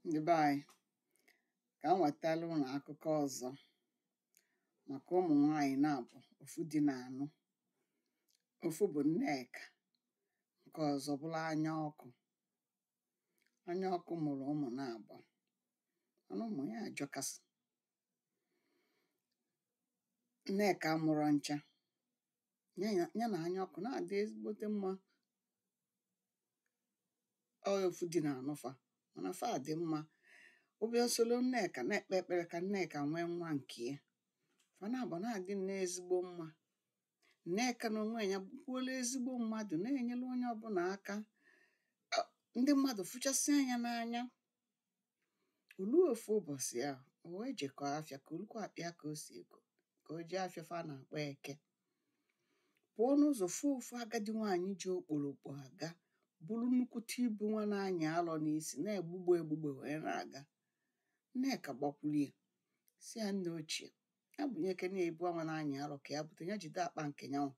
ndị be anyị ka m wetara ụnụ akụkọ ọzọ maka ụmụ nwanyị naabọ ofu di na-anụ ofu bụ nneka nke ọzọ bụrụ anya ọkụ anya ọkụ mụrụ ụmụ naabọ mana ụmụ ya ajọkasị nneka amụrọ ncha ya ya ya na anya ọkụ na-adị ezigbote mma ọ ofu di na-anụ fa mana fa dị mma ọ bịa soro nneka na-ekpe ekpere ka nneka nwee nwa nke ya fa naabọ na-adị nnọọ ezigbo mma nneka na onwe ya bụkwuola ezigbo mmadụ na-enyere onye ọbụla aka Ọ- ndị mmadụ fụchasịa nya n'anya o lu ofu ụbọchị ahụ o wee jekọọ afịa kolukwa akpa ya ka o si eko ka o je afịa fa na-akpọ eke pụọ n'ụzọ fụ ofu agadi nwaanyị ji okporokpo aga buru nnukwute ibu nwa na-anyị alọ n'isi na-egbugbe egbugbe wee na-aga nneka gbakwuru ya sị ya nne ochie ya bunyekene ya ibu anwa na-anyị alọ ka ya bute ya jide akpa nke nyanwụ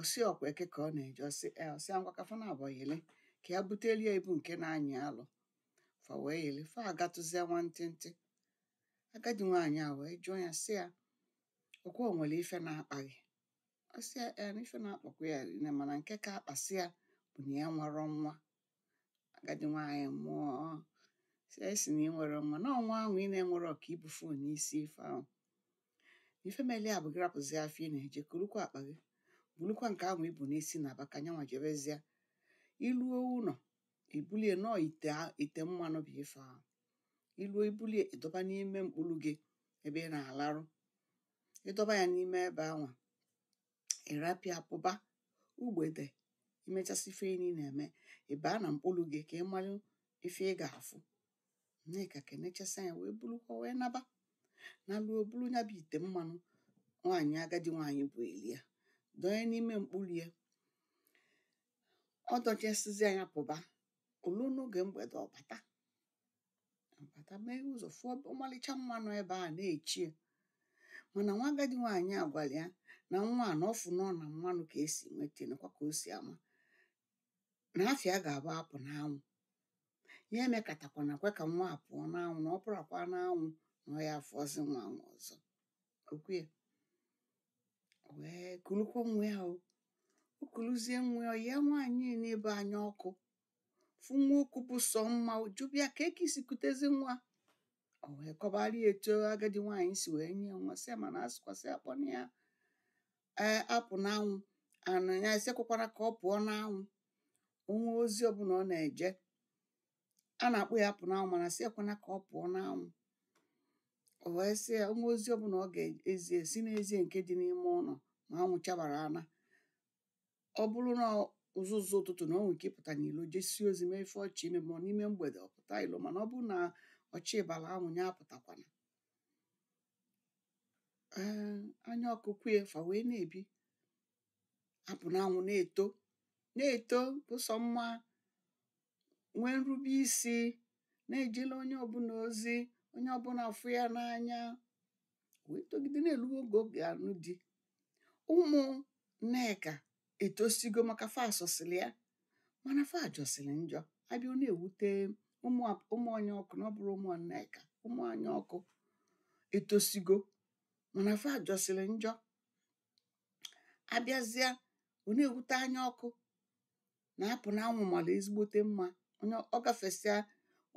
ọ sị ọkwa eke ka ọ na-eje ọ sị e ọ sị ngwa ka fa naabọ yele ka ya butelie ibu nke na-anyị alọ fa wee yele fa agatụzie nwantịntị agadi nwaanyị a wee jụọ ya sị ya ọkwa o nwere ife na-akpa gị ọ sị ya e na ife na-akpakwa ya rinne mana nke ka akpasị ya bụ na ya enwerọ nwa agadi nwaanyị mụọ sị nya ị sị na ị nwerọ nwa na ọ nwa ahụ ị na-enwerọ ka i bu fon n'isi ife ahụ ife mele ya bụ gị rapụzi afịa ị na-eje kolukwa akpa gị bulukwa nke ahụ i bu n'isi naba ka nyanwa jebezie i luo ụnọ i bulie na ọ ite a- ite mmanụ bụ ife ahụ i luo i bulie ị dọba n'ime mkpulu gị ebe ị na-alarụ ị dọba ya n'ime ebe anwa ị rapụ ya pụba mgbede i mechasị ife ị na-eme ị baa na mkpulu gị ka ị malụ ife ị ga-afụ nneka kenechasịa nya wee bulukwa wee naba naluo bulu ya bụ ite mmanụ nwaanyị agadi nwaanyị bunyeli ya dọnye n'ime mkpulu ya ọ dọchasịzịa nya pụba o lu n'oge mgbede ọ bata bata mee ụzọ fụ ọmalịcha nwa nọ ebe a na-eche ya mana nwa agadi nwaanyị a gwara ya na nwa a na ọ fụ na ọ na mmanụ ka e si nweta nakwa ka o si ama na afịa ga-abụ apụ n'anwụ ya emekatakwana kwe ka nwa a pụọ n'anwụ na ọ pụrakwa n'anwụ na ọ ya afụzi nwa anwa ọzọ o kwe ya wee kulukwa nwa ya o o kuluzie nwa ya ya nwaanyị n'ebe anya ọkụ fụ nwa o ku bụ sọ mma jụba ya kee ka i si kutezi nwa o wee kọbara ya etu agadi nwaanyị si wee nye ya nwa sị ya mana a sịkwa sị akpọna ya ee apụ n'anwụ na a sị ekwekwana ka ọ pụọ n'anwụ o nwee ozi ọbụla ọ na-eje a na-akpọ ya apụnanwụ mana a sị ekwena ka ọ pụọ n'anwụ o wee sị ya o nwee ozi ọbụla ọ ga-ezi sị nya zie nke dị n'ime ụlọ ma anwụ chabara ana ọ bụrụ n'ụzụzụ ụtụtụ na o nwere ike ịpụta n'ilo jesie ozi mee ife ọ chọ ime ma n'ime mgbede ọ pụta ilo mana ọ bụrụ na ọ chabala anwụ ya apụtakwana ee anya ọkụ kwee ya fa wee na-ebi apụnanwụ na-eto na-eto bụ sọ mma nwee nrube isi na-ejelu onye ọbụla ozi onye ọbụla fụ ya n'anya wee togide na-elu oge ọ ga-anụ di ụmụ nneka etosigo maka fa sọsịlị ya mana fa jọsịrị njọ a bịa ọ na-ewute ụmụ a- ụmụ anya ọkụ na ọ bụrọ ụmụ nneka ụmụ anya ọkụ etosigo mana fa jọsịrị njọ a bịazia ọ na-ewute anya ọkụ na apụnanwụ mara ezigbote mma onye ọ gafesịa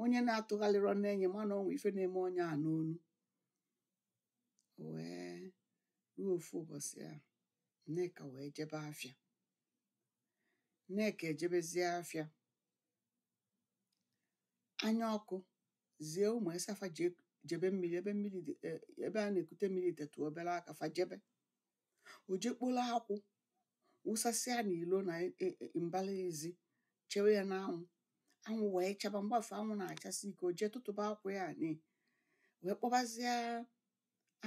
onye na-atụgharịrọ nee ya ma na o nwe ife na-eme onye a n'onu wee ruo ofu ụbọchị a nneka wee jebe afịa nneka ejebezie afịa anya ọkụ zie ụmụ ya sị fa jee jebe mmiri ebe mmiri dị e- ebe a na-ekute mmiri tetụ obere aka fa jebe o jee kporo akwụ wụsasịa n'ilo na e- e- e- mbara ezi chewe ya n'anwụ anwụ wee chaba mgbe afụ anwụ na-achasị ike o jee tụtụba akwụ ya ni wee kpọbazia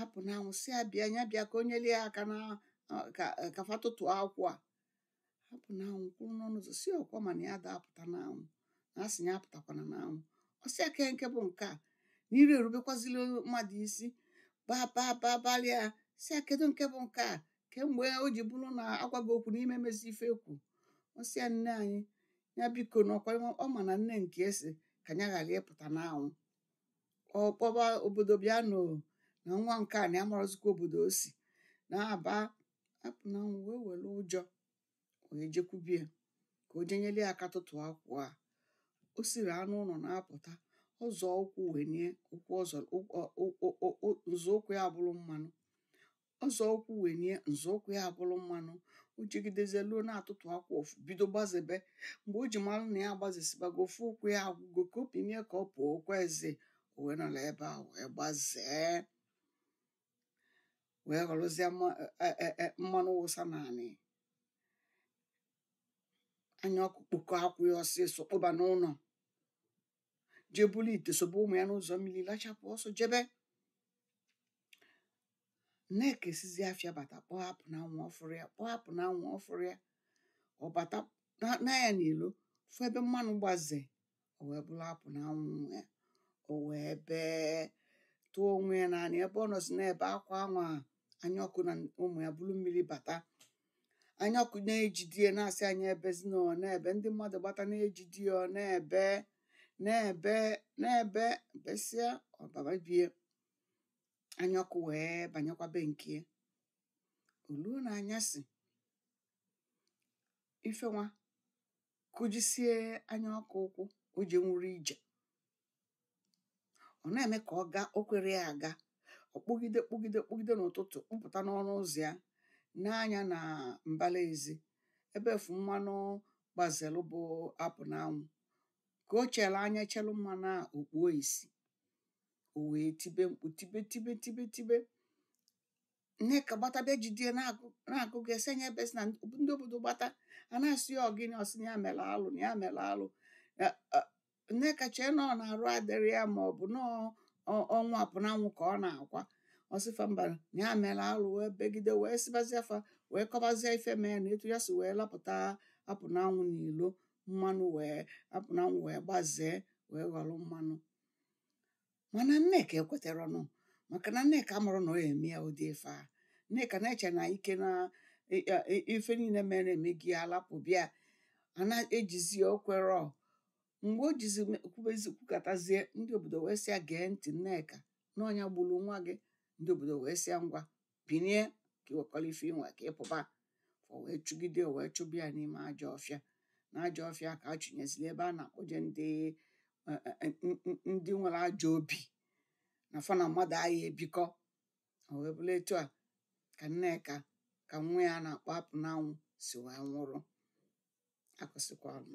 apụnanwụ sị ya bịa ya bịa ka o nyere ya aka na ka ka fa tụtụ akwụ a apụnanwụ kwụrụ n'ọnụ ụzọ sị ọ kwa ị ma na ya ada apụta n'anwụ na a sị ya apụtakwana n'anwụ ọ sị ya kee nke bụ nke a na ị dị erubekwazili mmadụ isi babababalịa sị ya kedu nke bụ nke a kemgbe o ji bụrụ na a gwa gị okwu na ị ma mezi ife e kwu ọ sị ya nne anyị ya biko na ọ kwa ọ ma na nne nke ya sị ka ya ghara ịpụta n'anwụ ọ kpọba obodo bịanụ na nwa nke a na ya amarọzikwa obodo o si na-aba apụnanwụ wee were ụjọ wee jekwube ya ka o jee nyere ya aka tụtụ akwụ a o siri ọnụ ụlọ na-apụta ọ zọọ ụkwụ wenie ụkwụ ọzọ nzọụkwụ ya abụrụ mmanụ ọ zọọ ụkwụ wenie nzọụkwụ ya abụrụ mmanụ o jegidezie luo na-atụtụ akwụ afụ bido gbazebe mgbe o ji mara na ya agbazesibago ofu ụkwụ ya agwụgo ka o binie ka ọ pụọ o kwezi o wee nọrọ ebe a wee gbazee wee ghọrọzie mma- e- e- e- mmanụ wụsa n'anị anya ọkụ kpokọ akwụ ya ọsịsọ kpoba n'ụnọ jee buru ite sobe ụmụ ya n'ụzọ mmiri lachapụ ọsọ jebe nneka sizi afịa bata kpọọ apụ na anwụ ọ fụrọ ya kpọọ apụ na anwụ ọ fụrọ ya ọ bata na- nee anya n'ilo fụ ebe mmanụ gbaze o wee bụrụ apụ na anwụ nwa ya o wee bee tụọ onwe ya n'anị ebe ọ nọzi na-ebe akwa anwa anya ọkụ na ụmụ ya buru mmiri bata anya ọkụ na-ejidie na-asị a nya ebezina ọ na-ebe ndị mmadụ gbata na-ejidie ọ na-ebe na-ebe na-ebe besịa ọ baba be ya anya ọkụ wee banyekwa be nke ya o luo n'anyasị ife wee kụjisie anya ọkụ ụkwụ o jenwurọ ije ọ na-eme ka ọ gaa o kwerọ ya aga ọ kpụgide kpụgide kpụgide n'ụtụtụ kpụpụta n'ọnụ ụzọ ya nee anya na mbala ezi ebe afụ mmanụ gbazelụ bụ apụ n'anwụ ka o chere anya chelụ mmanụ a o kpuo isi o wee tibe mkpu tibe tibe tibe tibe nneka gbatabe jidie na-agụgụ a sị nya ebezina ndị obodo gbata a na-asị ya ọ gịnị ọ sị na ya mere alụ na ya mere alụ nneka chee na ọ na arụ adịrọ ya ma ọ bụ na ọnwụ apụ na anwụ ka ọ na-akwa ọ sị fa mba na ya mere alụ wee begide wee sịbazie fa wee kọbazie ife mee na etu ya si wee lapụta apụ na anwụ n'ilo mmanụ wee apụ na anwụ wee gbazee wee ghọrọ mmanụ mana nneka ekwetarọ nụ maka na nneka amarọ na ọ ya-eme ya ụdị ife a nneka na-eche na ike na e- e- e- ife niile mere emego ala pụba ya a na-ejizi o kwerọ mgbe o jizi me- kwubezi kwukatazie ndị obodo wee sịa gee ntị nneka na ọ nya gburu nwa gị ndị obodo wee sịa ngwa binie ka i wekọlụ ife i nwe ka ị pụba fa wee chụgide wee chụba ya n'ime ajọ ọfịa na ajọ ọfịa ka a chụnyeziri ebe a na-akpọje ndị ndị nwere ajọ obi na fa na mmadụ aya ebikọ o wee bụrụ etu a ka nneka ka nwa ya a na-akpọ apụ n'anwụ si wee nwụrụ akụsịkwa ọnụ